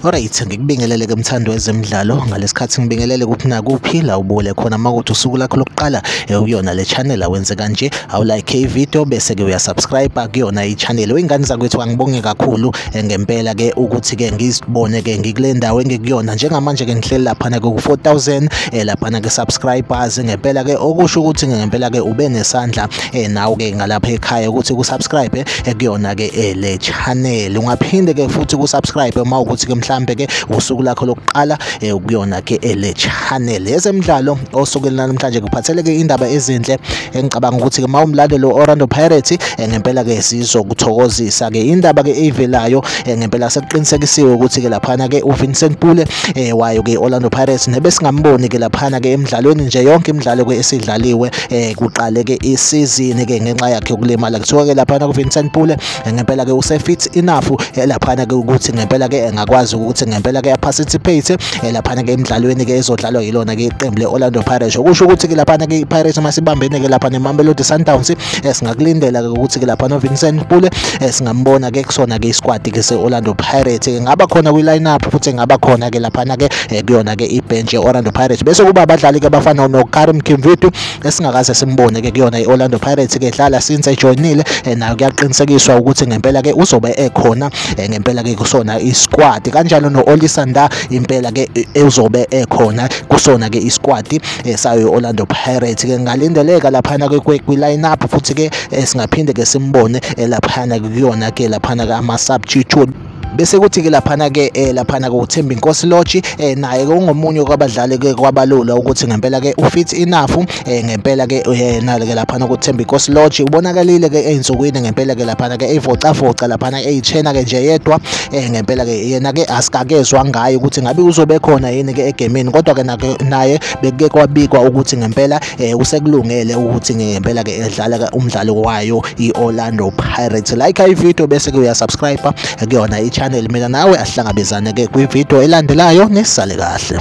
Alright, ngikubingelele ke mthandi wezemidlalo ngalesikhathi ngibingelele kuphi nakuphi la ubule khona makuthi usuku lakho lokuqala eh, uyona le channel awenze kanje awulike ivideo bese ke uyasubscribe kuyona i channel. Ingane zakwethu angibonge kakhulu Eh, ngempela ke ukuthi ke ngizibone ke ngikule ndawo engikuyona njengamanje ke ngihleli laphana ke ku-4000 eh, laphana ke subscribers ngempela ke okusho ukuthi ngempela ke ube nesandla eh, nawe ke ngalapha ekhaya ukuthi kusubscribe kuyona ke le channel ungaphinde ke futhi kusubscribe uma ukuthi ke mhlambe ke usuku lakho lokuqala kuyona ke le channel yezemidlalo osukwini namhlanje kuphatheleke indaba ezinhle engicabanga ukuthi ke mawumlandeli Orlando Pirates ngempela ke sizokuthokozisa ke indaba ke eyivelayo ngempela sekuqinisekisiwe ukuthi ke laphana ke uVincent Pule wayo ke Orlando Pirates nebesingamboni ke laphana ke emidlalweni nje yonke imidlalo ke esidlaliwe kuqale ke isizini ke ngenxa yakhe ukulimala kuthiwa ke laphana kuVincent Pule ngempela ke usefit enough laphana ke ukuthi ngempela ke engakwazi ukuthi ngempela ke aparticipate eh, laphana ke emidlalweni ke ezodlalwa yilona ke iqembu le-orlando pirates okusho ukuthi ke laphana ke ipirates uma sibambene ke lapha nemamelodi sundowns eh, singakulindela ke ukuthi ke lapha novincent pule eh, singambona ke kusona ke isquad ke se-orlando pirates ke ngaba khona kwi-lineup futhi ngaba khona ke laphana ke kuyona ke ibhenji ye-orlando pirates bese kuba abadlali ke abafana nokarim kimvitu esingakaze simbone ke kuyona i-Orlando Pirates ke dlala since ejoinile eh, nayo kuyaqinisekiswa ukuthi ngempela ke uzobe ekhona eh, ngempela ke kusona isquad kanjalo no-Olisanda impela ke eh, uzobe ekhona kusona ke isquad sayo i-Orlando Pirates ke ngalindeleka laphana ke kwi-line up futhi ke singaphinde ke simbone laphana kuyona ke laphana ke ama-substitute bese kuthi ke laphana ke eh, laphana ke uThembi Nkosi Lodge eh, naye ke ungomunye kwabadlali ke kwabalula ukuthi ngempela ke ufit enough eh, ngempela ke yena eh, ke laphana kuThembi Nkosi Lodge ubonakalile ke einsukwini ngempela ke laphana ke evocavoca laphana eyichena ke nje yedwa eh, ngempela ke yena ke asikakezwa ngayo ukuthi ngabe uzobe khona yini ke egemini kodwa ke naye bekuke kwabikwa ukuthi ngempela eh usekulungele ukuthi ngempela ke edlala umdlalo wayo iOrlando Pirates like i video bese kuya subscribe kuyona i channel mina nawe ahlangabezane ke kwi video elandelayo nisale kahle